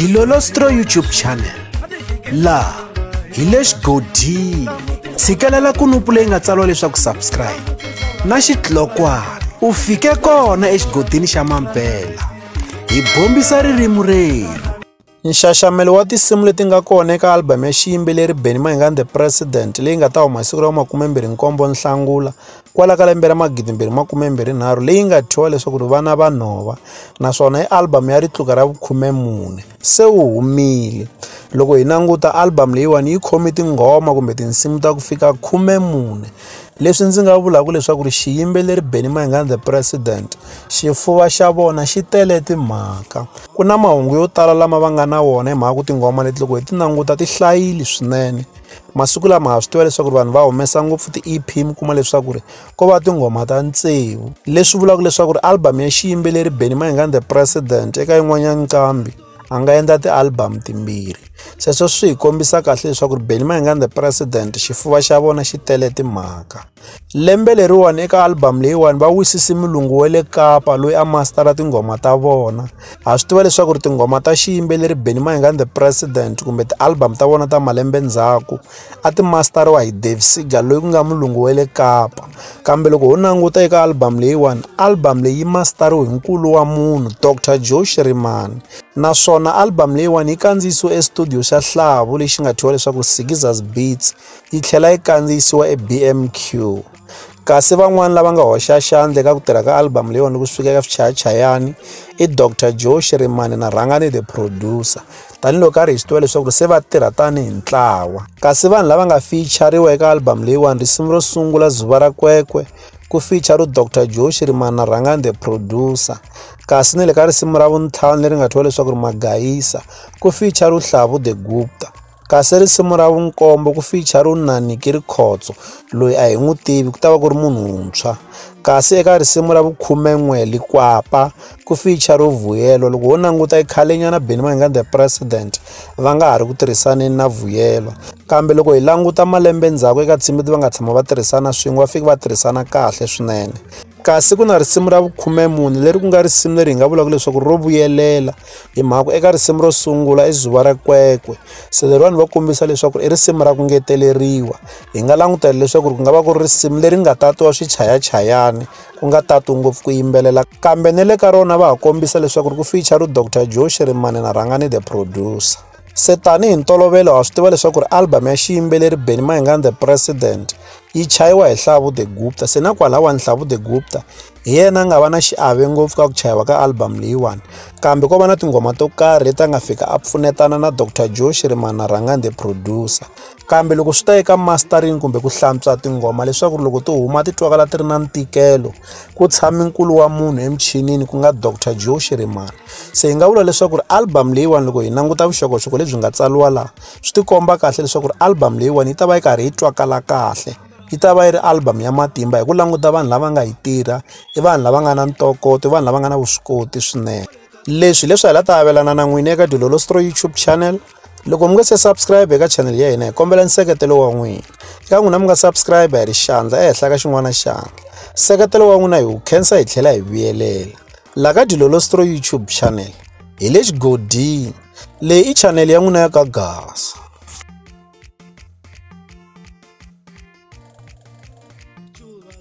dilolostro youtube channel laha hi le xigodini tshikelela kunupu leyi nga tsariwa leswaku subscribe na xitlokwana u fike kona exigodini xa mampela hi bombisa ririmi renu nxaxamelo wa tinsimu leti nga kona eka albhamu ya xiyimbeleri benny mahingan the president leyi nga ta huma hi siku ra makume-mbirhi-nkombo nhlangula kwala ka lembe ra magidi mbirhi makume mbirhi nharhu leyi nga thyiwa leswaku ri vana va nhova naswona i album ya ritluka ra vukhume mune se wu humile loko hi languta album leyiwani yi khome tinghoma kumbe tinsimu ta ku fika khume mune leswi ndzi nga vulaka leswaku ri xiyimbeleri benny mayingani the president xifuva xa vona xi tele timhaka ku na mahungu yo tala lama va nga na wona hi mhaka ku tinghoma leti loko hi ti languta ti hlayile swinene masiku lama ha swi tiva leswaku vanhu va humesa ngopfu ti-ep mi kuma leswaku ri ko va tinghoma ta ntsevu leswi vulaka leswaku ri album ya xiyimbeleri benny maingani the president eka yin'wanyana nqambi a nga endla ti-album timbirhi sweswo swi hi kombisa kahle leswaku ri benny maingani the president xifuva xa vona xi tele timhaka Lembe leriwani eka album leyiwani va wisise mulungu wa le Kapa loyi a mastara tinghoma ta vona ha swi tiva leswaku ri tinghoma ta xiyimbeleri Benny Mayengani the president kumbe ti-album ta vona ta malembe ndzhaku a ti mastariwa hi Dave Seeger loyi ku nga mulungu wa le Kapa kambe loko ho languta eka album leyiwani album leyi yi mastariwe hi nkulu wa munhu Doctor Joe Shirimani naswona album leyiwani yi kandziyisiwe e studio xa Hlavu lexi nga thyiwa leswaku Sigizas Beats yi tlhela yi kandziyisiwa eBMQ. Kasi van'wana lava nga hoxa xandla eka ku tirha ka album leyiwani ku sukela eka swichayachayani i Dr Joe Shirimani na Rhangani the producer tanihiloko a ri hi swi tiva leswaku ri se va tirha tanihi ntlawa kasi vanhu lava nga fichariwa eka album leyiwani risimu ro sungula zuva ra kwekwe ku feature ro dr joe shirimani na rhangani the producer kasi ni le ka risimu ra vuntlhanu leri nga thyiwa leswaku ri magayisa ku feature ro hlavu the gupta Kasi risimu ra vunkombo ku ficha ro nani ki ri khotso loyi a hi n'wi tivi ku ta va ku ri munhu wuntshwa kasi eka risimu ra vukhumen'we likwapa ku ficha ro vuyelo loko ho languta i khale nyana beni va nga the president va nga ha ri ku tirhisaneni na vuyelo kambe loko hi languta malembe ndzhaku eka ntsimi va nga tshama va tirhisana swin'we va fike va tirhisana kahle swinene. kasi ku na risimu ra vukhume mune leri ku nga risimu leri hi nga vulaka leswaku ro vuyelela hi mhaka eka risimu ro sungula i zuva ra kwekwe se leriwani va kombisa leswaku i risimu ra ku ngeteleriwa hi nga langutela leswaku ku nga va ku ri risimu leri nga tatiwa swichayachayani ku nga tati ngopfu ku yimbelela kambe ni le ka rona va ha kombisa leswaku ri ku feature ru dr joe xirimani na rhangani the producer se tanihi ntolovelo ha swi tiva leswaku ri albhamu ya xiyimbeleri benny maingani the president yi chayiwa hi nhlavu the gupta se na kwalawani nhlavu the gupta hi yena a nga va na xiave ngopfu ka ku chayiwa ka albhamu leyiwani kambe ko va na tinghoma to karhi leti a nga fika a pfunetana na dr joe xirimana rhangani the producer kambe loko swi ta eka mastering kumbe ku hlantswa tinghoma leswaku ri loko ti huma ti twakala ti ri na ntikelo ku tshami nkulu wa munhu emichinini ku nga dr joe shirimani se hi nga vula leswaku ri album leyiwani loko hi languta vuxokoxoko lebyi nga tsariwa laha swi tikomba kahle leswaku ri album leyiwani yi ta va yi karhi yi twakala kahle yi ta va yi ri album ya matimba hi ku languta vanhu lava nga yi tirha i vanhu lava nga na ntokoto i vanhu lava nga na vuswikoti swinene leswi leswi hi la ta avelana na n'wini eka dilolostro youtube channel loko mi nga se subscribe eka channel ya hina hi kombela nseketelo wa n'wina eka n'wina mi nga subscribe hi ri xandla ehenhla ka xin'wana xandla nseketelo wa n'wina hi wu khensa hi tlhela hi vuyelela la ka dilolostro youtube channel hi le xigodini leyi i channel ya n'wina ya ka gasa